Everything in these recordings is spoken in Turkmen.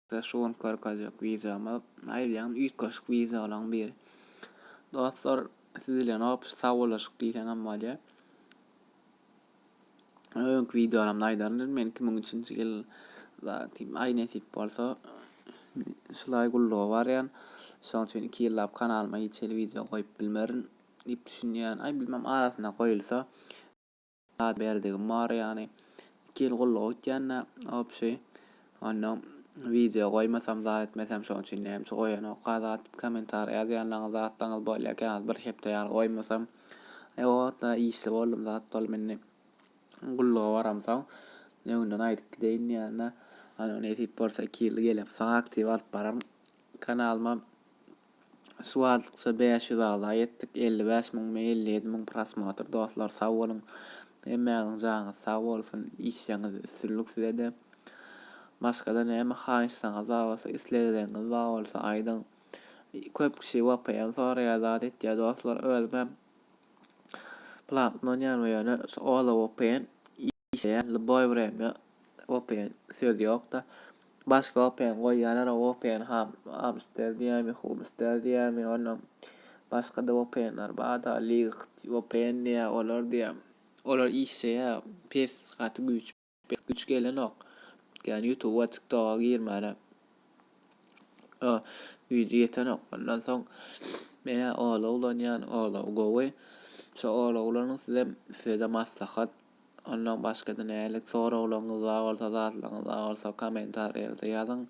Ýa-da şu gün körkazjyk wideoma naýylýan üýtgeşik wideolaň biri. Dostlar siz bilen hop sawollaşyk diýseňem bolýa. Öňki wideolarymda aýdaryn men 2003-nji ýyl zatim aý nesip bolsa şulaý gulluga barýan. Şoň üçin 2 ýyllap kanalyma hiç hili wideo goýup bilmerin diýip düşünýän. Aý bilmem arasynda goýulsa Zat berdigim bar ýany iki ýyl gulluk etýände obşi onda wideo goýmasam zat etmesem şoň üçin näme goýanokka zat kommentariýa ýazýanlaryňyz zatlaryňyz bolýa käwagt bir hepde ýaly goýmasam e o wagtlar işli boldum zat boldum indi gulluga baramsoň öňden aýdyp gideýin diýende Ana nesip bolsa iki ýyl gelip saňa aktiw alyp bararyn kanalyma Şu wagtlykça bäş ýüz agza ýetdik elli bäş müň mi elli ýedi müň prosmotr dostlar sag boluň hemmäňiň janyňyz sag bolsun işleňiz üstünlik sizede başgada näme haýyşlaňyz bar bolsa islegleňiz bar bolsa aýdyň köp kişi vpn soraýar zat etýär dostlar özümem platny ulanýaryn we ýöne şu ola vpn işleýän ljuboý wremýa open söz ýokda başga open goýýalara open ham amster diýýämi humster diýýämi onam başgada openler barda ligyht open diýýä olar diýýä olar işleýä pes gaty güýç pes güýç gelenok ýani ýutuba tiktoga girmäne o güýji ýetenok ondan soň menä ola ulanýan ola gowy şo ola ulanyň sizem sizede maslahat. Ondan başga-da nälik soraglaryňyz bar bolsa, zatlaryňyz bar bolsa kommentariýalarda ýazyň.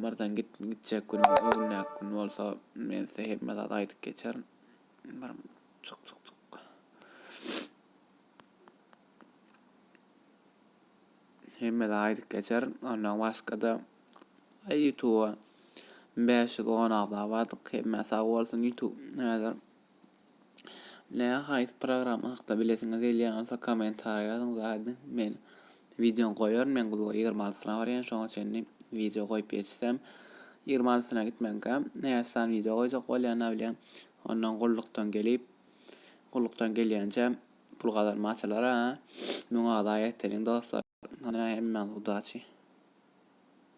Birden git, gitjek gün, öwülmän gün bolsa, men size hemme zat aýdyp geçerin. Bir çyk çyk çyk. Hemme zat aýdyp geçerin. Ondan başga-da YouTube 510 agza bardyk. Hemme sag bolsun YouTube. Häzir Näme haýsy programma hakda bilesiňiz gelýän bolsa kommentariýa ýazyň zaýadyň men wideony goýaryn men gulga ýigrimi altysyna barýan şoňa çenli wideo goýup ýetişsem ýigrimi altysyna gitmänkä näçe sany wideo goýjak bolýan abilýan ondan gullukdan gelip gullukdan gelýänçä pul gazanma açylar ha muňa zaýa etdeliň dostlar hemmäňize udaçi